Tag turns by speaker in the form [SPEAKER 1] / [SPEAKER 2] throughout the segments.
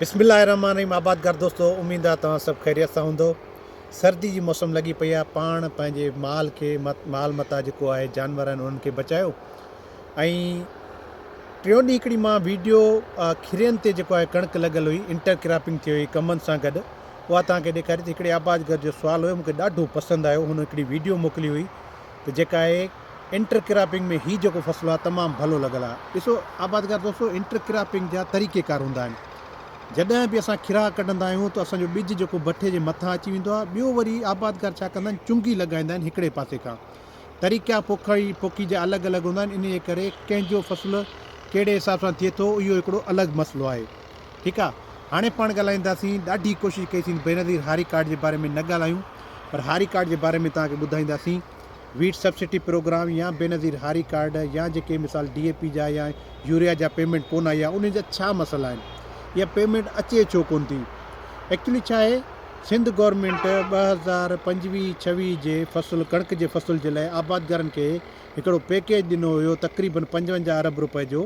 [SPEAKER 1] بسم الله الرحمٰن الرحيم آبادگار دوستو اميد آ توهان سڀ خيريت سان هوندؤ سردي جي موسم لڳي پئي آ پاڻ پنهنجي مال کي مال متاع جيڪو آهي جانور آهن انهن کي بچايو ۽ ٽيون ڏينهن هڪڙي مان ويڊيو کيرين تي جيڪو آهي ڪڻڪ لڳل هئي انٽر ڪراپنگ ٿي هئي ڪمن سان گڏ اها توهان کي ڏيکاري ته هڪڙي آبادگار جو سوال هيو مونکي ڏاڍو پسند آيو هن هڪڙي ويڊيو موڪلي هئي ته جيڪا آهي انٽر ڪراپنگ ۾ هي جيڪو فصل آهي تمام ڀلو لڳل آهي ڏسو آبادگار دوستو انٽر ڪراپنگ جا طريقي ڪار هوندا آهن جڏهن به اسان کراء ڪڍندا آهيون ته اسان جو ٻج جيڪو بٺي جي مٿان اچي ويندو آهي ٻيو وري آبادگار ڇا ڪندا آهن چنگي لڳائيندا آهن هڪڙي پاسي کان طريقا پوکي پوکي جا الڳ الڳ هوندا آهن انهي ڪري ڪنهن جو فصل ڪهڙي حساب سان ٿئي ٿو اهو هڪڙو الڳ مسئلو آهي ٺيڪ آ هاڻي پاڻ ڳالهائينداسين ڏاڍي ڪوشش ڪئي سين بينظير هاري ڪارڊ جي باري ۾ نه ڳالهايون پر هاري ڪارڊ جي باري ۾ توهان کي ٻڌائينداسين ويٽ سبسڊي پروگرام يا بينظير هاري ڪارڊ يا جيڪي مثال ڊي اي پي جا يا يوريا جا پيمنٽ ڪون آئي آ انهن جا ڇا مسئلا آهن يا پيمنٽ اچي ڇو ڪون ٿي ايڪچولي ڇا آهي سنڌ گورنمينٽ ٻه هزار پنجويهه ڇويهه جي فصل ڪڻڪ جي فصل جي لاء آبادگارن کي هڪڙو پيڪيج ڏنو هيو تقريبن پنجونجاهه ارب روپئي جو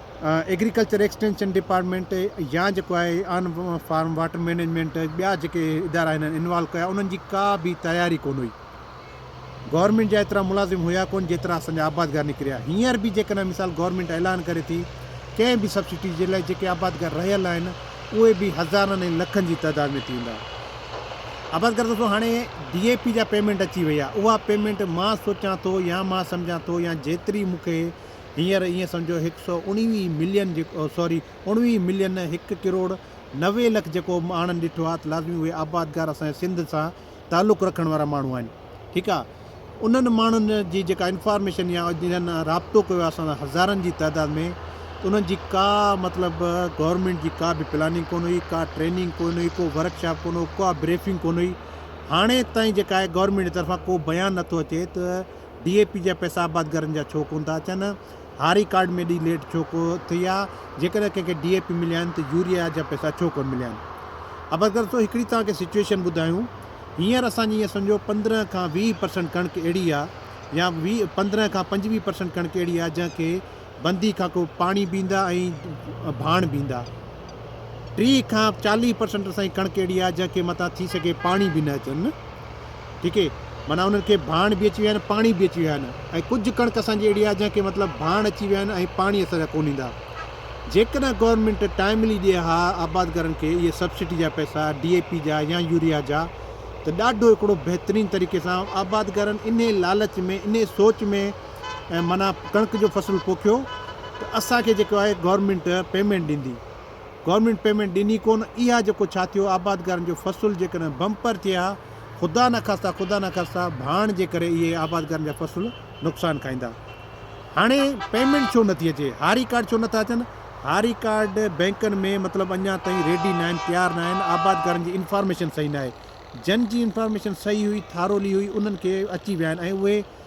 [SPEAKER 1] ايگريڪلچر ايڪسٽينشن ڊپارٽمينٽ يا جيڪو آهي آن فارم واٽر مينيجمينٽ ٻيا جيڪي ادارا هنن انوالو ڪيا انهن جي ڪا به تياري ڪون هئي گورنمينٽ جا ايترا ملازم هيا ڪون جيترا اسان جا آبادگار نڪريا هينئر به جيڪڏهن مثال گورنمينٽ اعلان ڪري ٿي ڪنهن به سبسڊي جي لاء جيڪي آبادگار رهيل آهن اهي به هزارن ۽ لکن جي تعداد ۾ ٿي ويندا آبادگار دوستو هاڻي ڊي اي پي جا پيمنٽ اچي وئي آهي اها پيمنٽ مان سوچان ٿو يا مان سمجهان ٿو يا جيتري مونکي هينئر ائين سمجهو هڪ سؤ اڻويهه ملين جيڪو سوري اڻويهه ملين نه هڪ ڪروڙ نوي لک جيڪو ماڻهن ڏٺو آهي ته لازمي اهي آبادگار اسان جي سنڌ سان تعلق رکڻ وارا ماڻهو آهن ٺيڪ آهي انهن ماڻهن جي جيڪا انفارميشن يا جنهن رابطو ڪيو آهي اسان سان هزارن جي تعداد ۾ ته انهن جي ڪا مطلب گورنمينٽ جي ڪا به پلاننگ ڪونه هئي ڪا ٽريننگ ڪونه هئي ڪو ورڪ شاپ ڪونه هو ڪا بريفنگ ڪونه هئي هاڻي تائين جيڪا آهي گورنمينٽ جي طرفان ڪو بيان نٿو اچي ته ڊي اي پي جا پئسا آبادگارن جا ڇو ڪونه ٿا اچن؟ هاري ڪارڊ ۾ ايڏي ليٽ ڇو ٿئي آ؟ جيڪڏهن ڪنهن کي ڊي اي پي مليا آهن ته يوريا جا پئسا ڇو ڪونه مليا آهن؟ آبادگار سو هڪڙي توهان کي سچوئيشن ٻڌايون هينئر اسان جي ائين سمجهو پندرهن کان ويهه پرسنٽ ڪڻڪ اهڙي آ يا ويهه پندرهن کان پنجويهه پرسنٽ ڪڻڪ اهڙي آ جنهن کي بندي کان ڪو پاڻي بيندا ۽ ڀاڻ بيندا ٽيهه کان چاليهه پرسنٽ سائين ڪڻڪ اهڙي آهي جنهن کي متان ٿي سگهي پاڻي به نه اچن ٺيڪ اهي معنيٰ انهن کي ڀاڻ به اچي ويا آهن پاڻي به اچي ويا آهن ۽ ڪجهه ڪڻڪ اسان جي اهڙي آهي جنهن کي مطلب ڀاڻ اچي ويا آهن ۽ پاڻي اسان جا ڪون ايندا جيڪڏهن گورنمينٽ ٽائملي ڏي ها آبادگارن کي اهي سبسڊي جا پئسا ڊي اي پي جا يا يوريا جا ته ڏاڍو هڪڙو بهترين طريقي سان آبادگارن انهي لالچ ۾ انهي سوچ ۾ ۽ معنيٰ ڪڻڪ جو فصل پوکيو ته اسان کي جيڪو آهي گورنمينٽ پيمينٽ ڏيندي گورنمينٽ پيمينٽ ڏني ڪون اها جيڪو ڇا ٿيو آبادگارن جو فصل جيڪڏهن بمپر ٿئي ها خدا نخواسته خدا نخواسته ڀاڻ جي ڪري اهي آبادگارن جا فصل نقصان کائيندا هاڻي پيمينٽ ڇو نٿي اچي هاري ڪارڊ ڇو نٿا اچن هاري ڪارڊ بينڪن ۾ مطلب اڃا تائين ريڊي نه آهن تيار نه آهن آبادگارن جي انفارميشن صحيح نه آهي جن جي انفارميشن صحيح هئي ٿارولي هئي انهن کي اچي ويا آهن ۽ اهي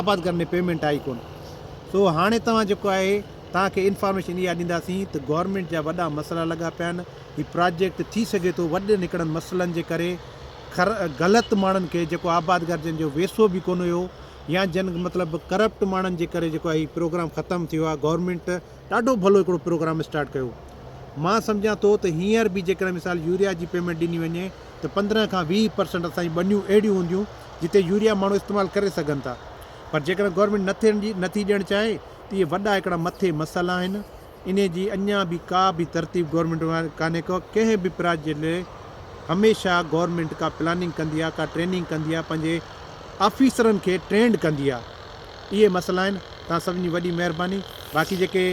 [SPEAKER 1] آباد گهر ۾ پيمينٽ آئي ڪونه سو هاڻي توهان جيڪو آهي توهان کي انفارميشن اها ڏينداسين ته گورنمينٽ جا وڏا مسئلا لڳا پيا آهن هي پراجيڪٽ ٿي سگهي ٿو وڏن هڪڙن مسئلن جي ڪري کر غلط ماڻهن کي جيڪو آباد گهر جن جو ويسو به ڪونه هيو يا جن مطلب ڪرپٽ ماڻهن جي ڪري جيڪو آهي هي پروگرام ختم ٿيو آهي گورنمينٽ ڏاڍو ڀلو هڪڙو پروگرام اسٽارٽ ڪيو مان سمجهان ٿو ته هينئر به جيڪڏهن مثال يوريا جي پيمينٽ ڏني وڃي ته پندرهن کان ويهه پرسنٽ اسان جون ٻنيون اهڙيون هونديون جتي يوريا ماڻهو استعمال ڪري سگهن ٿا پر جيڪڏهن گورنمينٽ نه ٿي ڏيڻ چاهي ته اهي وڏا هڪڙا مٿي مسئلا آهن انهي جي اڃان به ڪا به ترتيب گورنمينٽ وٽ ڪانهي ڪا ڪنهن به پراجيڪٽ جي لئي هميشه گورنمينٽ ڪا پلاننگ ڪندي آهي ڪا ٽريننگ ڪندي آهي پنهنجي آفيسرن کي ٽرينڊ ڪندي آهي اهي مسئلا آهن توهان سڀني جي وڏي مهرباني باقي جيڪي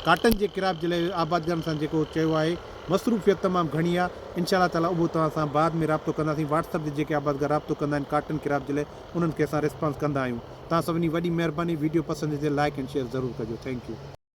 [SPEAKER 1] ڪاٽن جي ڪراپ جي لاء آبادگارن سان جيڪو چيو آهي مصروفيت تمام گهڻي آ انشاء الله تعاليٰ اهو توهان سان بعد ۾ رابطو ڪنداسين واٽس اپ تي جيڪي آبادگار رابطو ڪندا آهن ڪارٽن ڪراپ جي لاء انهن کي اسان ريسپانس ڪندا آهيون توهان سڀني وڏي مهرباني ويڊيو پسند اچي ته لائيڪ اينڊ شيئر ضرور ڪجو ٿينڪ يو.